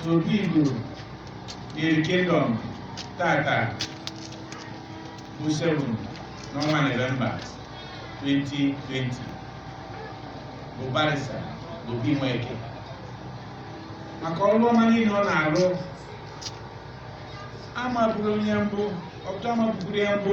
obi Igbo Nri kingdom tata bụ 7 n'ọnwa Nọvemba 2020 bụ barista Obi Nweke maka ọrụ ọma niile ọ na-arụ amaburu ya mbụ ọtụtụ amaburu ya mbụ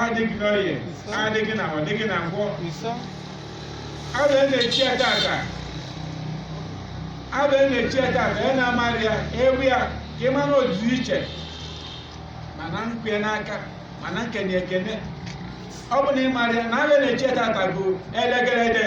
adịghị n'oye adịghị n'Afọ adịghị na Nkwọ abụ e na-echi ya tata abụ e na-echi ya tata ya na-amarị ya ị bịa ka ị ma na ọ dị iche ma na-ekwe n'aka ma na-ekene ekene ọ bụ na ị mara ya na abụ e na-echi ya tata bụ elegere